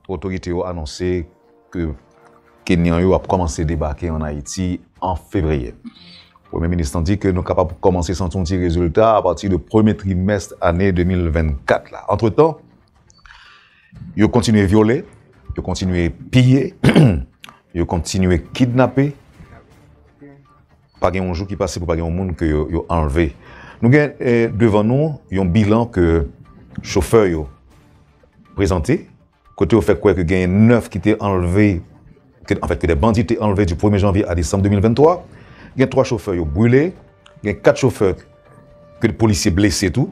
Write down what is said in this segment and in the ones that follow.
Otorite yo anonse ke Kenyan yo ap kòmanse debake an Ayiti an Fevriye. Premye Minis lan di ke nou kapab kòmanse santi yon ti rezilta apati de premye trimès ane 2024 la. Antretan, yo kontinye vyole, yo kontinye piye, yo kontinye kidnape. Pa gen yon jou ki pase pou pa gen yon moun ke yo anlve. Nou gen devan nou yon bilan ke chofè yo prezante, kote yo fè kwè ke genyen 9 ki te anlve, an fèt ke de bandi te anlve di premye janvye a desanm 2023. Gen 3 chofè yo brile, gen 4 chofè ke polisye blese tou.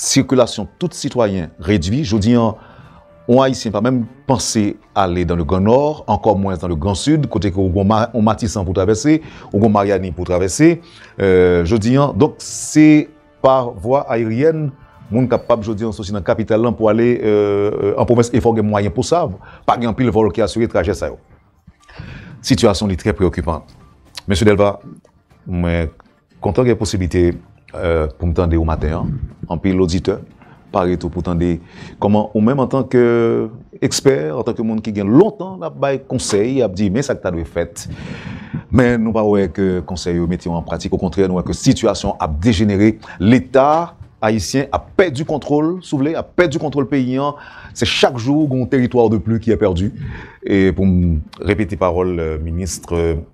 Sikilasyon tout sitwayen redwi. Jodi an, yon Ayisyen pa menm panse ale dan le Gran Nò, ankò mwens dan le Gran Sid, kote ke ou gen yon Matisan pou travèse, ou gen yon Maryani pou travèse. Jodi an, donk se pa vwa ayeryèn moun kapab jodi an soti nan kapital lan pou ale an pwovens e fò gen mwayen pou sa. Pa gen anpil vòl ki asire trajè sa yo. Sitiyasyon li trè preyokipan. Mesye Delva, mwen. Kontan gen posiblite pou m tande ou maten an, anpil oditè pare tou pou tande kòman ou menm antan ke ekspè, antan ke moun ki gen lontan l ap bay konsèy, ap di men sa k ta dwe fèt, men nou pa wè ke konsèy yo mete yo an pratik, okontrè nou wè ke sitiyasyon ap dejenere, leta ayisyen ap pèdi kontwòl, si w vle, ap pèdi kontwòl peyi an, se chak jou gon teritwa de pli ki è pèdi, e pou m repete pawòl minis.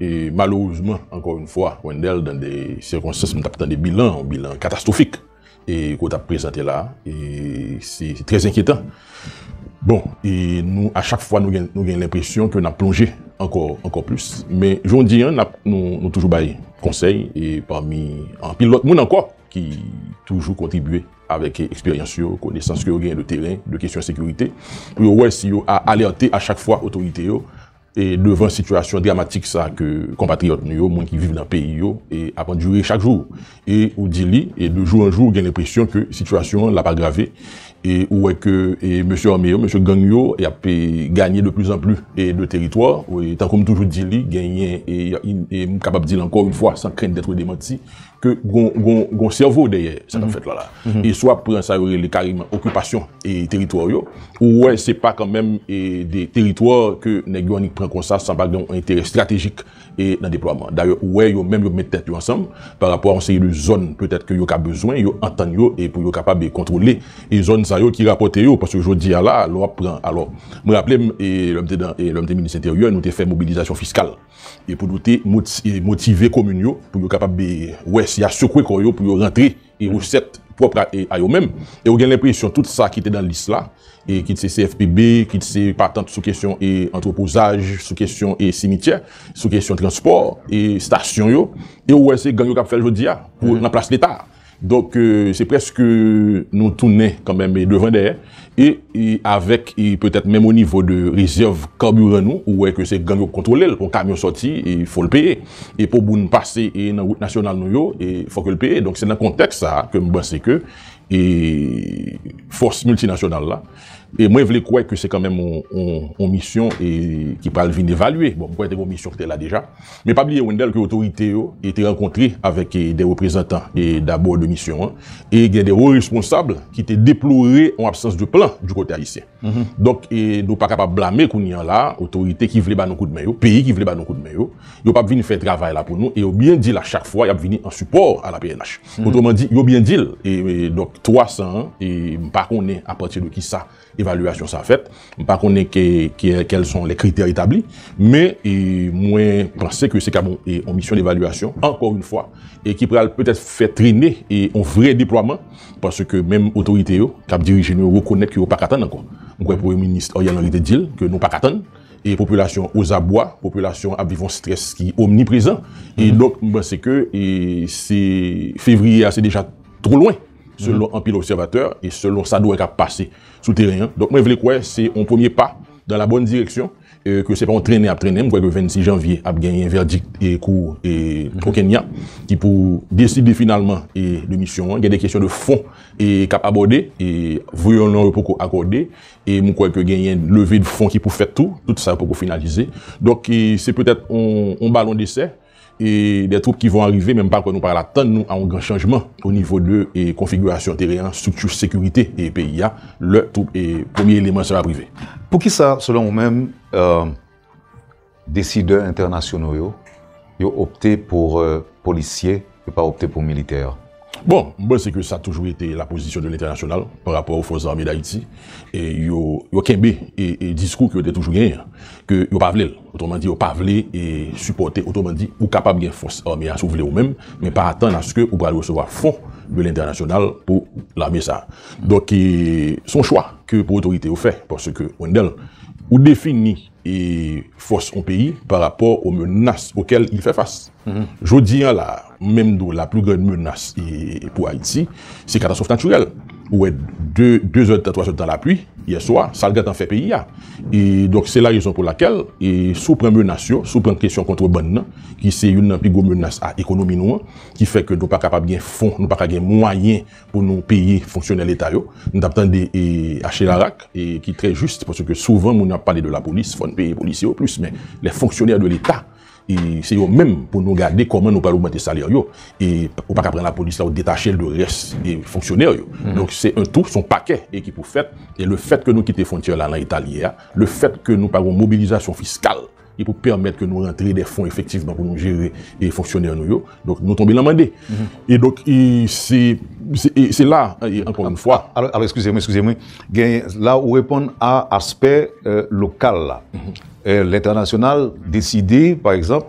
E malerezman, ankò yon fwa, Wendell, dan de sikonstans m t ap tande bilan, yon bilan katastwofik e ke w t ap prezante la a, e se trè zenkyetan. Bon, e nou a chak fwa nou gen lenpresyon ke n ap plonje ankò, ankò plis. Men jondi an, n ap, nou toujou bay konsèy e pami anpil lòt moun ankò ki toujou kontribye avèk eksperyans yo, konesans ke yo genyen de teren, de kesyon sekirite, pou yo wè si yo a alète a chak fwa otorite yo, E devan sitiyasyon dramatik sa ke konpatriyòt nou yo, moun ki viv nan peyi yo, ap andire chak jou, e ou di li, e de jou an jou ou gen lenpresyon ke sitiyasyon an l ap agrave, e ou wè ke mesye ame yo, mesye gang yo y ap ganye de plizanpli de teritwa, tankou m toujou di li, genyen, e m kapab di l ankò yon fwa san krent dètre demanti, ke gon sèvo dèyè sa kap fèt la la. E si wap pran sa yo rele kareman okipasyon e teritwa yo, ou wè se pa kanmenm e de teritwa ke nèg yo annik pran konsa san pa gen yon enterè estratejik e nan deplwaman. Dayè ou wè yo menm yo met tèt yo ansanm pa rapò a yon seri de zòn petèt ke yo ka bezwen, yo antann yo e pou yo kapab e kontwole e zòn sa yo ki rapòte yo. Paske jodi a la a lè wap pran alò mwen raple m e lè m te nan e lè m te minis enteryè nou te fè mobilizasyon fiskal. e pou nou te motive komin yo pou yo kapab wè si ya sekwe kò yo pou yo rantre e resèt pwòp a yo menm e ou gen lenpresyon tout sa ki te nan lis la e kit se CFPB kit se patant sou kesyon e antwopozaj sou kesyon e simityè sou kesyon transpò e stasyon yo e ou wè se gang yo kap fèl jodi a pou nan plas leta. Donk se preske nou tounen kanmenm devan dèyè e avèk petèt menm o nivo de rezèv kabiran nou ou wè ke se gang yo k kontwole l, pou yon kamyon sòti e fò l peye e pou moun pase e nan wout nasyonal nou yo e fò ke l peye. Donk se nan kontèks sa a ke m panse ke e fòs miltinasyonal la. E mwen vle kwè ke se kan menm yon misyon ki pral vin evalye. Bon, mwen kwè te gen yon misyon ki te la deja. Men pa bliye Wendell ke otorite yo te rankontre avèk de reprezantan dabò de misyon an. E gen de wo responsab ki te deplore yon absans de plan di kote ayisyen. Donk nou pa kapab blame kounye an la otorite ki vle ba nou kout men yo, peyi ki vle ba nou kout men yo. Yo pap vin fè travay la pou nou e yo byen di l a chak fwa y ap vini an sipò a la pnh. Otreman di, yo byen di l e donk 300 an e m pa konnen a pati de ki sa evalyasyon sa a fèt, m pa konnen ke kèl son lè kritè etabli men e mwen panse ke se kab on misyon devalyasyon ankò yn fwa e ki pral petèt fè trene e on vre deplwaman paske menm otorite yo k ap dirije nou yo rekonèt ke yo pa ka tann ankò. M kwè Premye Minis Ariel Henry te di l ke nou pa ka tann. e popilasyon o zabwa popilasyon ap viv yon strès ki omni prezan e donk m panse ke e se fevriye a se deja two lwen selon anpil obsèvatè e selon sa dwe kap pase sou teren an donk mwen vle kwè se yon premye pa dan la bòn direksyon e ke se pa yon trennen ap trennen m kwè ke 26 janvye ap genyen vèdik e kou e o kenya ki pou deside finalman e demisyon an gen de kesyon de fon e kap abòde e vwe yon non yo poko akòde. E m kwè ke genyen leve de fon ki pou fèt tou, tout sa yo poko finalize. Donk se petèt yon balon desè e dè twoup ki von arive men m pa kwè nou pral atann nou a yon gran chanjman o nivo de konfigirasyon teren an, strikti sekirite e peyi a lè twoup e premye eleman sa yo ap rive. Poukisa selon ou menm? Decideur internationaux yo, yo opte pour policier, yo pa opte pour militaire. Bon, m panse ke sa toujou rete la pozisyon de lentènasyonal pa rapò o fòs zame dayiti, yo kenbe diskou ke yo te toujou genyen an, ke yo pa vle l, otreman di yo pa vle sipòte, otreman di ou kapab gen fòs ame a si w vle ou menm, men pa atann aske ou pral resevwa fon de lentènasyonal pou lame sa. Donk se yon chwa ke pou otorite yo fè, paske Wendel ou defini e fòs yon peyi pa rapò o menas okèl li fè fas. Jodi an la a, m menm di w la pli grand menas pou Ayiti, se katastwòf natirèl. Ou wè 2 de zè tan, 3 zè de tan lapli yè swa, sa l gen tan fè peyi a. E donk se la rezon pou lakèl, e si w pran menas yo, si w pran kesyon kontrebann nan, ki se youn nan pi gwo menas a ekonomi nou an, ki fè ke nou pa kapab gen fon, nou pa ka gen mwayen pou nou peye fonksyonè leta yo, nou tap tande acherarak ki trè jis paske souvan moun ap pale de lapolis fòn peye polisye yo plis men lè fonksyonè de leta se yo menm pou nou gade kòman nou pral ogmante salè yo e ou paka pran lapolis la ou detachel de rès e fonksyonè yo donk se un tou son pakè e ki pou fèt e le fèt ke nou kite fontyè la nan eta li ye a le fèt ke nou pa gon mobilizasyon fiskal e pou pèmèt ke nou rantre de fon efektivman pou nou jere e fonksyonè nou yo, donk nou tonbe lan mande. E donk e se, se la ankò yon fwa. Alò eskize mwen, eskize mwen, gen la ou reponn a aspè lokal la. Lentènasyonal deside pa egzanp,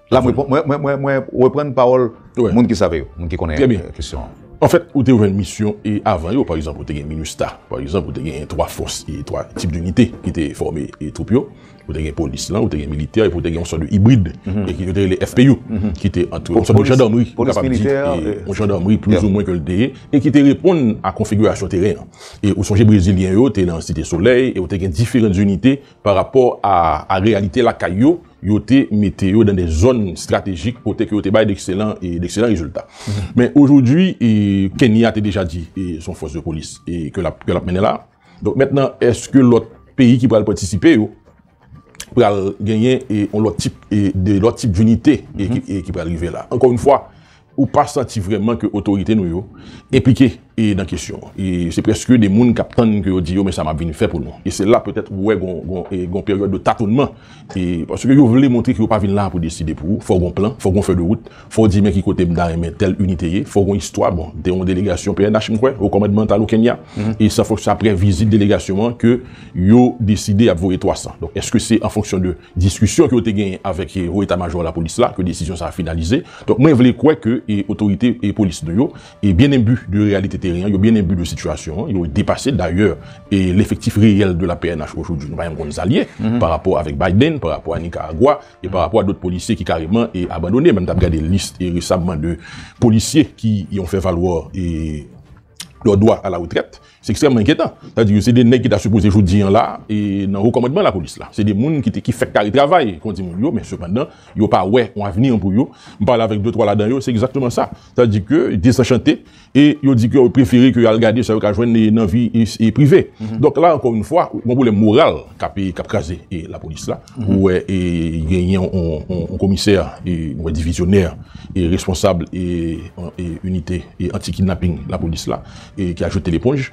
La mwen reprann pawòl moun ki save yo, moun ki konnen kesyon an. An fèt, ou te jwenn misyon e avan yo, pa egzanp, ou te gen Minustah, pa egzanp, ou te gen 3 fòs e 3 tip dinite ki te fòme e twoup yo. Ou te gen polis lan, ou te gen militè epi ou te gen yon sòt de ibrid e ki yo te rele FPU ki te antre yon sòt de jandarmri, ou kapab di yon jandarmri plis ou mwen ke l te ye e ki te reponn a konfigirasyon teren an. E ou sonje brezilyen yo te nan Site Solèy e ou te gen diferan dinite. pa rapò a reyalite lakay yo, yo te mete yo nan de zòn estratejik kote ke yo te bay dekselan rezilta. Men ojodwi, Kenya te deja di se yon fòs de polis ke l ap mennen la. Donk mentnan eske lòt peyi ki pral patisipe yo pral genyen yon lòt tip de lòt tip dinite ki pral rive la. Ankò yon fwa, Ou pa santi vrèman ke otorite nou yo enplike nan kesyon an. E se prèske de moun k ap tann ke yo di yo men sa m ap vin fè pou nou. E se la petèt ou wè gon peryòd de tatonman. E paske yo vle montre ke yo pa vin la pou deside pou ou. Fò gon plan, fò gon fè de wout, fò di men ki kote m ta renmen tèl inite ye, fò gon istwa. Bon, m te yon delegasyon pnh m kwè, Haut Commandmental au Kenya. E se aprè vizit delegasyon an ke yo deside y ap voye 300. Donk, èske se an fonksyon de. diskisyon ke yo te genyen avèk Wo Eta Majò Lapolis la ke desizyon sa a finalize. Donk mwen vle kwè ke otorite polis nou yo byen enbi de reyalite teren an, yo byen enbi de sitiyasyon an, yo depase l. Dayè, lefektif reyèl de la pnh ojodwi nou pa janm konn sa l ye pa rapò avèk Biden, pa rapò a Nikaragwa e pa rapò a dot polisye ki kareman abandone. Mwen menm t ap gade lis resamman de polisye ki yon fè valwa. lò dwa a la retrèt, se ekstrèmman enkyetan. Sa di yo se 2 nèg ki ta sipoze jodi an la e nan wo kòmandman lapolis la. Se 2 moun ki te ki fèk kare travay kon di moun yo men sepandan yo pa wè yon avni an pou yo. M pale avèk 2, 3 ladan yo se egzakteman sa. Sa di ke desanchante e yo di ke yo prefere ke yo al gade sa yo ka jwenn e nan vi e prive. Donk la ankò yon fwa, gon pwoblèm moral k ape k ap kraze e lapolis la. Ou wè e genyen yon komisè e ou wè divizyonè e responsab e inite e anti kidnaping lapolis la e ki a jete leponj.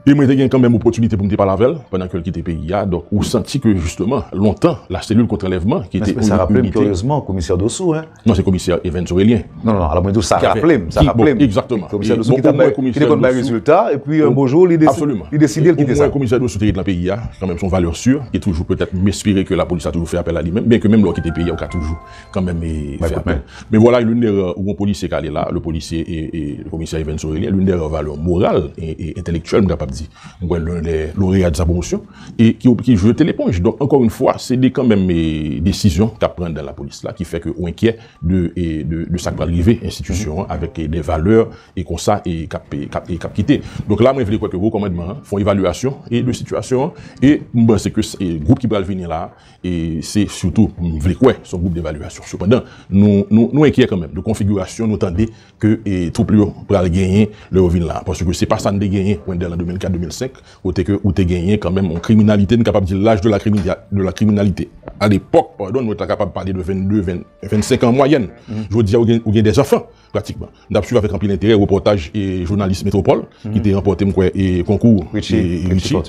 E mwen te gen kanmenm opotinite pou m te pale avè l pandan ke l kite peyi a. Donk ou santi ke jisteman lontan la selil kontr'anlèvman ki te yon inite. Sa raple m kiryezman komisè Dossou. Non se komisè Evens Aurelien. Non, non, non, alò mwen di w sa raple m, sa raple m. Exactement. Komisè Dossou ki te bay, ki te konn bay rezilta, e pi yon bon jou li deside l kite sa. Absolument. Omwen komisè Dossou te ret lan peyi a, kanmenm son valè sur, e toujou petèt m espere ke lapolis a toujou fè apèl a li menm, byenke menm lè w kite peyi a ou ka toujou kanmenm fè apèl. Men vwala loun dè rè, yon polisye k ale la, le polisye e komisè Evens Aurelien, loun dè rè valè moral e entèlektyèl m kapab di, m kwè loun dè loreya de sa pwomosyon. e ki ki jete leponj donk ankò yn fwa se de kanmenm e desizyon kap pran dan lapolis la ki fè ke ou enkyè de e de de sak pral rive enstitisyon an avèk e de valè e konsa e kap pe kap e kap kite donk la mwen vle kwè ke wo kòmandman an fon evalyasyon e de sitiyasyon an e m panse ke se gwoup ki pral vini la e se sitou m vle kwè son gwoup devalyasyon sepandan nou nou nou enkyè kanmenm de konfigirasyon nou tande ke e twoup li yo pral genyen lè yo vin la paske se pa sa n te genyen pwenn de lan 2004 2005 Kote ke ou te genyen kanmenm yon kriminalite, n kapab di laj de la kriminalite. A lepòk, padon, nou ta kapab pale de 22, 25 an an mwayèn. Jodi a ou gen de zanfan, pratikman. M t ap swiv avèk anpil enterè repòtaj jounalis Metropole ki te ranpòte, m kwè, konkou Richie,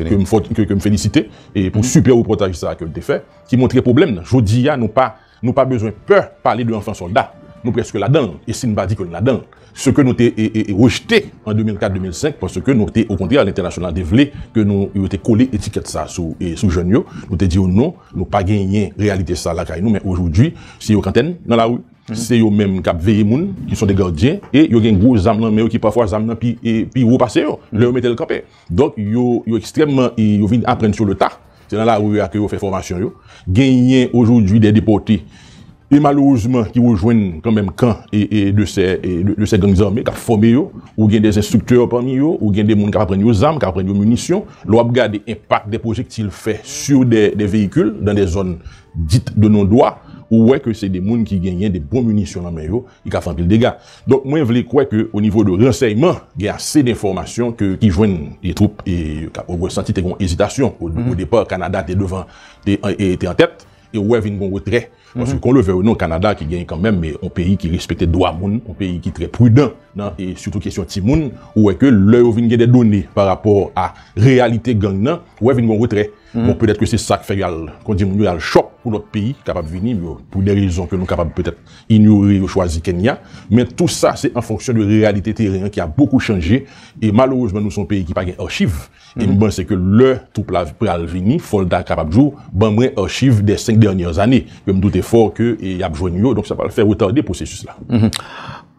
ke m felisite pou sipè repòtaj sa a ke l te fè, ki montre pwoblèm nan. Jodi a nou pa. Nou pa bezwen pè pale de anfan sòlda, nou prèske ladan l e si n pa di ke n ladan l, se ke nou te rejte an 2004, 2005 paske nou te okontrè lentènasyonal te vle ke nou yo te kole etikèt sa sou jèn yo, nou te di yo non, nou pa genyen reyalite sa lakay nou men ojodwi se yo kanntè n nan lari, se yo menm k ap veye moun ki son de gardyen e yo gen gwo zam nan men yo ki pafwa zam nan pi wo pase yo lè yo mete l kanpe. Donk yo yo ekstrèmman e yo vin aprann sou le ta. Se nan lari a ke yo fè fòmasyon yo. Genyen ojoudwi dè depòte e malerezman ki rejwenn kanmenm kan e e de sè e de sè gang zame k ap fòme yo. Ou gen dè enstriktè pami yo, ou gen de moun k ap aprann yo zam, k ap aprann yo minisyon. Lè w ap gade enpak dè pwojektil fè sou dè dè veyikil dan dè zòn dit de non dwa, ou wè ke se de moun ki genyen de bon minisyon nan men yo e k ap fè anpil dega. Donk mwen vle kwè ke o nivo de ransèyman gen ase denfòmasyon ke ki jwenn e twoup e ka ou wè santi te gon ezitasyon o depa Kanada te devan te te an tèt e ou wè vin gon retrè paske kon le vèy ou non Kanada ki gen kanmenm me on peyi ki respekte dwa moun on peyi ki trè pridan nan e sitou kesyon timoun ou wè ke lè yo vin gen de done pa rapò a reyalite gang nan ou wè vin gon retrè. Bon petèt ke se sak fè yo al kondi moun yo al chòp pou lòt peyi kapab vini yo pou de rezon ke nou kapab petèt inyore yo chwazi Kenya men tou sa se an fonksyon de reyalite teren an ki a bokou chanje e malerezman nou son peyi ki pa gen archiv e m panse ke lè twoup la pral vini fòl ta kapab di w ban mwen archiv dè 5 dènyè zane ke m doute fò ke e yap jwenn yo donk sa pral fè retade pwosesis la.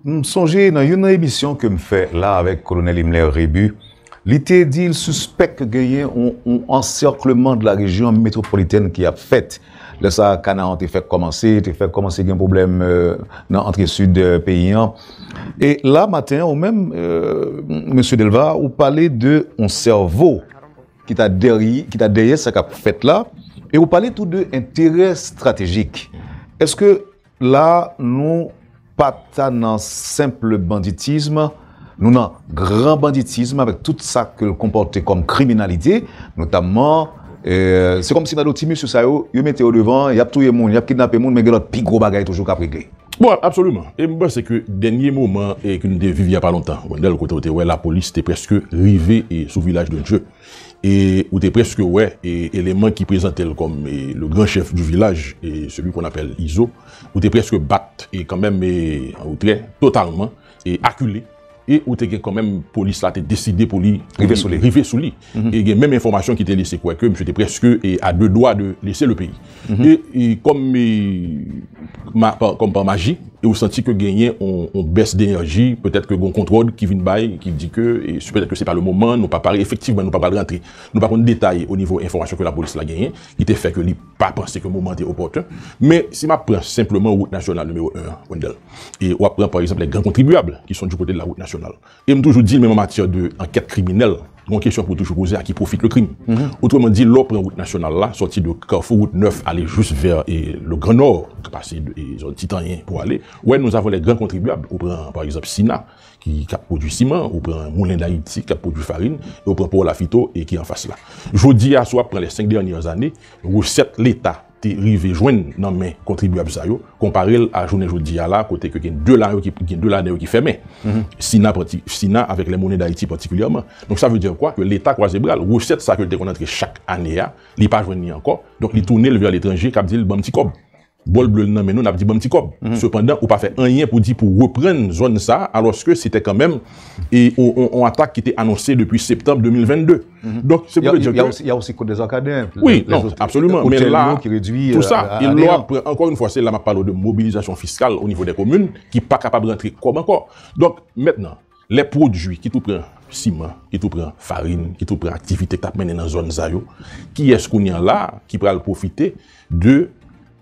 M sonje nan youn nan emisyon ke m fè la avèk kolonèl Himler Rebu Li te di l sispèk ke genyen yon ansèkleman de la rejyon metwopolitèn ki ap fèt. Lè sa a kanal an te fèk kòmanse, te fèk kòmanse gen pwoblèm nan antre sid peyi an. E la maten an ou menm Mesye Delva ou pale de yon sèvo ki ta dèry, ki ta dèyè sa k ap fèt la e ou pale tou de enterè estratejik. Èske La a, nou pa ta nan senple banditism, nou nan gran banditism avèk tout sa ke l konpòte kòm kriminalite, notamman, se kòm si nan do ti mesye sa yo, yo mete yo devan, y ap touye moun, y ap kidnape moun, men gen lòt pi gwo bagay toujou k ap regle. Bon, absoliman. E m panse ke dènye moman ke nou te viv y a pa lontan, Wendell, kote ou te wè lapolis te prèske rive sou Vilaj de Dye, E ou te preske wè eleman ki prezante l kòm le grand chef du village, celui qu'on appelle Izo, ou te preske bat kanmenm an retrè totalman e akile e ou te gen kanmenm polis la te deside pou li rive sou li e gen menm enfòmasyon ki te lese kwè ke misye te preske a de dwa de lese le peyi. E kòm pa maji, e ou santi ke genyen yon bès denerji, petèt ke gen yon kontwòl ki vin bay, ki di ke, petèt ke se pa le moman, nou pa pare, efektivman nou pa pral rantre, nou pa konn detay o nivo enfòmasyon ke lapolis la genyen, ki te fè ke li pa panse ke moman an te opòten. Men, si m ap pran senpleman wout nasyonal nimewo 1 an, Wendell, e w ap pran pa egzanp lè gran kontribyab ki son di kote de la wout nasyonal, E m toujou di menm an matyè de ankèt kriminèl, gon kesyon pou w toujou poze, a ki pwofit le krim? Otreman di, lè w pran wout nasyonal la, sòti de kafou wout nèf ale jous vè le gran nò, ki pase zòn ti tanyen pou ale, ou wè nou avon lè gran kontribyab, ou pran pa egzanp sina, ki k ap pwodui siman, ou pran moulen dayiti k ap pwodui farin, e ou pran pò lafito ki anfas la. Jodi a si w ap pran lè senk dènyè zane, resèt leta. te rive jwenn nan men kontribyab sa yo, konpare l a jounen jodi a la kote ke gen 2 la yo ki, gen 2 ladan yo ki fèmen. Sina pati, Sina avèk Les Monnaies d'Haïti patikilyèman. Donk sa vle di kwa? Ke Leta kwaze bra l. Resèt sa ke l te konn antre chak ane a, li pa jwenn li ankò. Donk li tounen l vè letranje k ap di l ban m ti kòb. Bòl ble l nan men nou, n ap di ban m ti kòb. Sepandan ou pa fè anyen pou di pou reprann zòn sa a, alòske se te kanmenm e yon atak ki te anonse depi septanb 2022. Donk, se pou te djèk yo. Ya osi kote de zakadè. Oui, non, absolument. Men la, tout sa, e nou ap pran, ankon yon fwa, se la map pale ou de mobilizasyon fiskal ou nivou de komin, ki pa kapab rantre kòb ankò. Donk, mètnan, lè pwodui ki tou pran siman, ki tou pran farin, ki tou pran aktivite kap mennen nan zòn sa yo, kiyès kounye an la, ki pral pwofite de.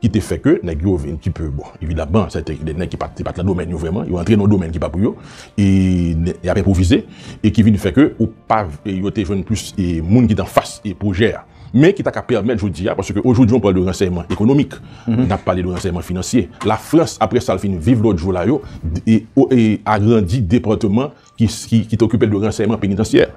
ki te fè ke nèg yo vin ki pe, bon, evidamman, sè te gen de nèg ki pat, se pat nan domèn yo vrèman, yo antre nan yon domèn ki pa pou yo, e y ap enpwovize, e ki vin fè ke ou pa, yo te jwenn plis e moun ki te anfas e pwojè a. Men ki ta ka pèmèt jodi a, paske ojoudjou an pale de ransèyman ekonomik, n ap pale de ransèyman finansye, Lafrans, apre sa l fin viv lòt jou la yo, e agrandi depatman ki te okipe de ransèyman penitansyè,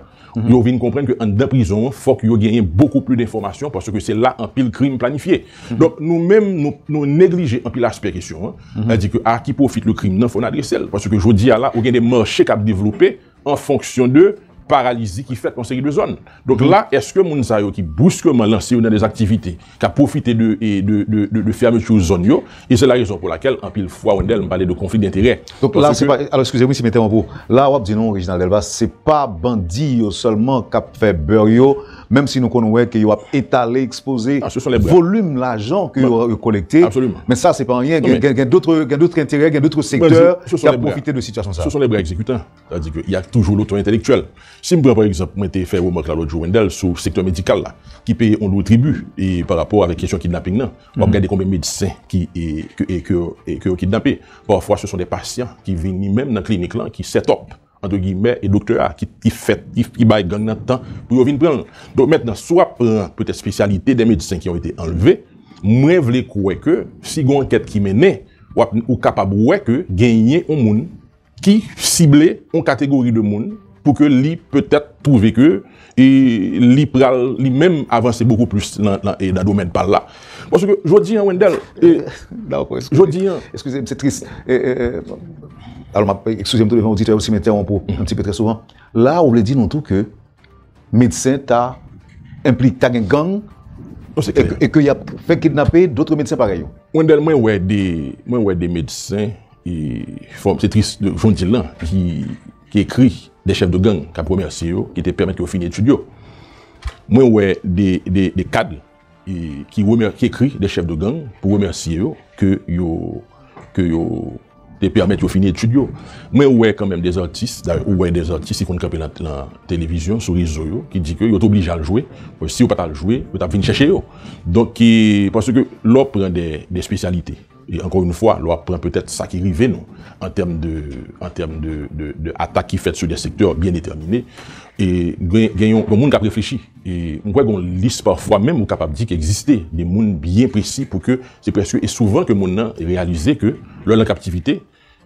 yo vin konprann ke anndan prizon an fòk yo genyen bokou pli denfòmasyon paske se la anpil krim planifye. Donk nou menm nou neglije anpil aspè kesyon an, sa di ke a ki pwofit le krim nan fò n adrese l paske jodi a la ou gen de mache k ap devlope an fonksyon de paralizi ki fèt nan yon seri de zòn. Donk la eske moun sa yo ki briskman lanse yo nan de aktivite K ap pwofite de fermeture zòn yo. E se la rezon pou lakèl anpil fwa Wendel m pale de konfli denterè. Donk la se pa, alò eskize wi si m entèwonp ou. La w ap di nou Reginald Delva se pa bandi yo sèlman k ap fè beurre yo, menm si nou konn wè ke yo ap etale, ekspoze volume lajan ke yo kolekte. Men sa se pa anyen. Gen dotre enterè, gen dotre sektè k ap pwofite de sitiyasyon sa. Se son lè bra egzekitan. Sa vle di ke y a toujou loto entelektyèl. Si m pran pa egzanp, mwen te fè remake la lòt jou Wendell sou sektè medikal la ki peye yon lou tribi e pa rapò avèk kesyon kidnaping nan. W ap gade konbyen medsen ki e ke ke yo kidnape. Pafwa se son de pasyan ki vini menm nan klinik lan ki sètòp antre gimè e doktè a ki ki fè ki bay gang nan tan pou yo vin pran l. Donk mentnan si w ap pran petèt spesyalite de medsen ki yon ete anlve, mwen vle kwè ke si gen yon ankèt ki mennen w ap ou kapab wè ke genyen yon moun ki sible yon kategori de moun pou ke li petèt twouve ke li pral li menm avanse bokou plis nan domèn pa l la. Paske jodi an Wendel, jodi an. Eskize m se tris. Eskize m tou devan oditè yo si m entèwonp ou, un petit peu, trè souvan. La ou vle di nou tou ke medsen ta enpli ta gen gang e ke yap fè kidnape dotre medsen parèy yo. Wendel mwen wè de mwen wè de medsen e fòm se tris jon dil lan ki ki ekri de chèf de gang kap remèsye yo ki te pèmèt yo fini etid yo mwen wè de de de kad ki remè ki ekri de chèf de gang pou remèsye yo ke yo ke yo te pèmèt yo fini etid yo mwen wè kan menm de zantis dayè ou wè de zantis ki konn kanpe nan nan televizyon sou rezo yo ki di ke yo te oblije al jwe si yo pa t al jwe yo t ap vin chèche yo donk ki paske lè w pran de de spesyalite E ankò yn fwa, lè w ap pran petèt sa ki rive nou an tèm de an tèm de de atak ki fèt sou dè sektè byen detèmine, e gen gen yon moun k ap reflechi. E m kwè gen yon lis pafwa menm ou kapab di ki egziste de moun byen presi pou ke se prèske e souvan ke moun nan reyalize ke lè l an kaptivite,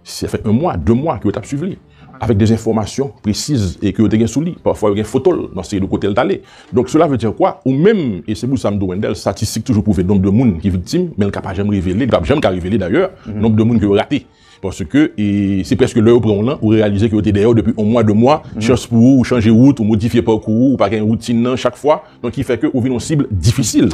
Se fè 1 mwa, 2 mwa ke yo tap swiv li. Avèk de enfòmasyon presiz e ke yo te gen sou li. Pafwa yo gen foto l nan seri de kote l t ale. Donk sela vle di kwa? Ou menm, e se pou sa m di w Wendell, statistik toujou pwouve nonb de moun ki viktim, men l ka pa janm revele, li pap janm ka revele dayè, nonb de moun ke yo rate. Paske e se prèske lè yo pran w lan, ou reyalize ke yo te dèyè w depi 1 mwa, 2 mwa, chans pou ou, ou chanje wout, ou modifye pakou ou, ou pa gen woutin nan chak fwa. Donk ki fè ke ou vin yon sibl difisil.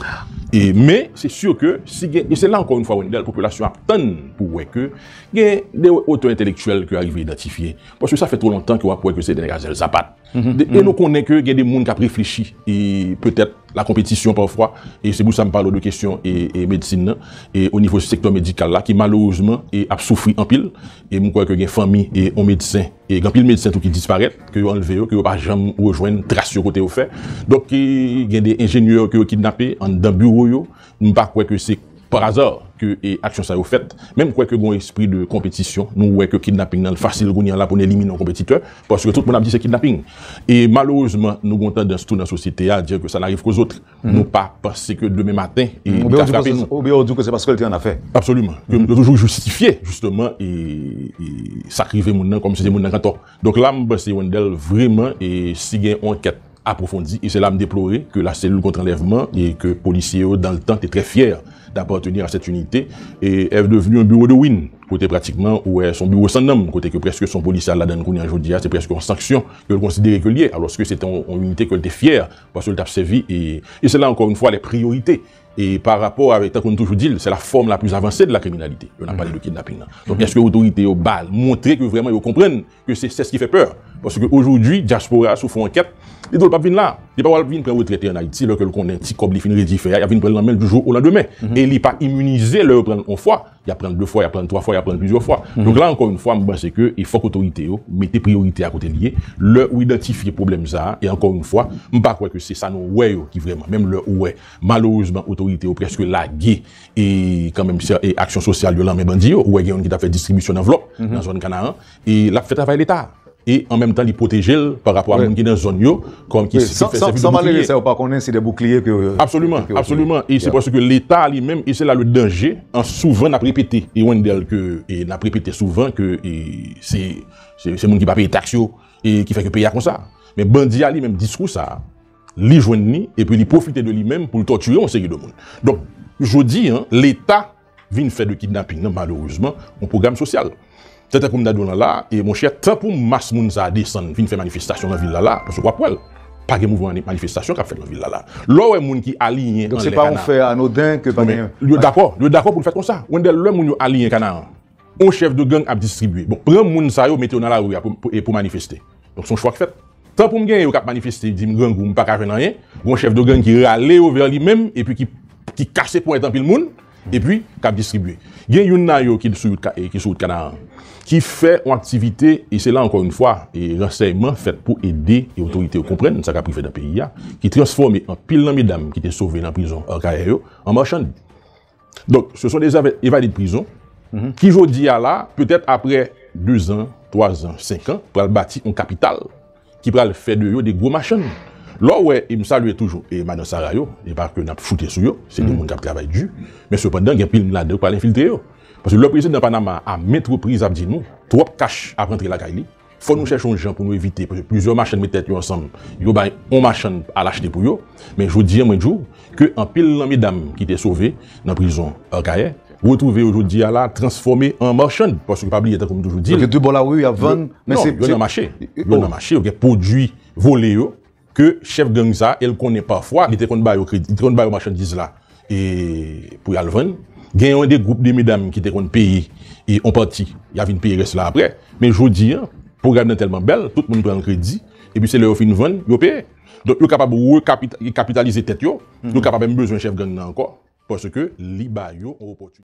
E men se sur ke si gen, e se la ankò yon fwa Wendell, popilasyon ap tann pou wè ke gen de otè entelektyèl ke arive idantifye. Paske sa fè two lontan ke wap wè ke se de nèg a zèl sapat. E nou konnen ke gen de moun kap reflechi e petèt la konpetisyon pafwa e se pou sa m pale w de kesyon e medsin nan e o nivo sektè medikal la ki malerezman e ap soufri anpil E m kwè ke gen fanmi e yon medsen, e gen anpil medsen tou ki disparèt, ke yo anlve yo, ke yo pa janm rejwenn tras yo kote yo fè. Donk gen de enjenyè ke yo kidnape anndan biwo yo. M pa kwè ke se par hasard ke aksyon sa yo fèt. Men m kwè ke gen yon espri de konpetisyon. Nou wè ke kidnaping nan fasil kounye an la pou n elimine yon konpetitè. Paske tout moun ap di se kidnaping. E malerezman nou gen yon tandans tou nan sosyete a, dire que ça n'arrive qu'aux autres. Nou pa panse ke demen maten, e li ka frape nou. Ou byen ou di ke se paske li te an afè. Absoluman. Yo toujou jistifye, jisteman, e sa ki rive moun nan, kòm si se moun nan ki an tò. Donk la m panse Wendel vreman, e si gen yon ankèt apwofondi, e se la m deplore ke la selil kont anlèvman, e ke polisye yo dan le tan te trè fyè d'apartenir a cette unité, est devenu un bureau de ruine. Kote pratikman ou wè son biwo san nanm, kote ke prèske son polisye al ladan l kounye a, jodi a se prèske yon sanksyon ke l konsidere ke l ye, alòske se te yon inite ke l te fyè Paske l t ap sèvi e, e se la ankò yon fwa lè priyorite e pa rapò avèk tankou nou toujou di l se la fòm la plis avanse de la kriminalite lè n ap pale de kidnaping nan. Donk èske otorite yo ba montre ke vrèman yo konprann ke se sè s ki fè pè? Paske ojoudwi dyaspora si w fè yon ankèt li di w l p ap vin la. Li pa pral vin pran retrèt li an Ayiti lè ke l konnen ti kòb li fin redi fè a y ap vin pran l nan men l di jou olandemen e li pa imunize lè yo pran l yon fwa Y ap pran l de fwa, y ap pran l twa fwa, y ap pran l plizyè fwa. Donk la ankò yon fwa, m panse ke e fòk otorite yo mete priyorite a kote li ye. Lè ou idantifye pwoblèm sa a, e ankò yon fwa, m pa kwè ke se sa nou wè yo ki vrèman, menm lè ou wè malerezman otorite yo prèske lage e kanmenm sè e aksyon sosyal yo lan men bandi yo, ou wè gen youn ki t ap fè distribisyon nan vlòp nan zòn Kanaran, e lap fè travay leta e an menm tan li pwotejel pa rapò a moun ki nan zòn yo kòm ki fè sèvi de boukliye. San malere sa yo pa konnen se de boukliye ke yo ye. Absoliman, absoliman e se paske leta li menm e se la le danje an souvan nap repete e Wendel ke e nap repete souvan ke e se se moun ki pa peye taks yo e ki fè ke peyi a konsa men bandi a li menm diskou sa li jwenn ni epi li pwofite de li menm poul tòtire yon seri de moun donk jodi an leta vin fè de kidnaping nan malerezman yon pwogram sosyal. Tenten pou m dade w lan la, e monchè tan pou mas moun sa a desann vin fè manifestasyon lan vil la la, paske w ap wè l, pa gen mouvman manifestasyon k ap fèt lan vil la la. Lè w wè moun ki aliyen anlè Kanaan, yo dakò pou l fèt konsa. Wendèl, lè moun yo aliyen Kanaan. On chèf de gang ap distribye. Bon, pran moun sa yo mete yo nan lari a pou manifeste. Donk son chwa k fèt. Tan pou m genyen yo k ap manifeste di m grangou m pa ka jwenn anyen, gen on chèf de gang ki rale yo vè li menm epi ki kase ponyèt anpil moun epi k ap distribye. Gen youn nan yo ki sou wout Kanaran ki fè on aktivite e se la ankò youn fwa ransèyman fèt pou ede otorite yo konprann sa k ap rive nan peyi a ki transfòme anpil nan medam ki te sove nan prizon Akayè yo an marchand. Donk, se son de zèv evaded prizon ki jodi a la, petèt apre dezan, twazan, senkan, pral bati yon kapital ki pral fè de yo de gwo machann. Lè w wè, e m salye toujou e madan Sara yo, e pa ke n ap choute sou yo, se de moun k ap travay di, men sepandan gen pil moun ladan yo k pral enfiltre yo. Paske lè prezidan Panama a, a ment repriz ap di nou, twòp kach ap rantre lakay li, Fò nou chèche yon jan pou nou evite paske plizyè machann met tèt yo ansanm, yo bay yon machann al achte pou yo. Men jodi an mwen di w ke anpil nan medam ki te sove nan prizon Akayè retwouve yo jodi a la transfòme an marchann paske pa bliye tankou m toujou di l, yo nan mache yo gen pwodui vole yo. ke chèf gang sa el konnen pafwa li te konn ba yo kredi li te konn ba yo machandiz la e pou yal vann gen yon de gwoup de medam ki te konn peye e on pati ya vin peye rès la aprè men jodi an pwogram nan tèlman bèl tout moun pran kredi epi se lè yo fin vann yo peye donk yo kapab rekapitalize tèt yo yo kapab menm bezwen chèf gang nan ankò paske li ba yo on opòtinite.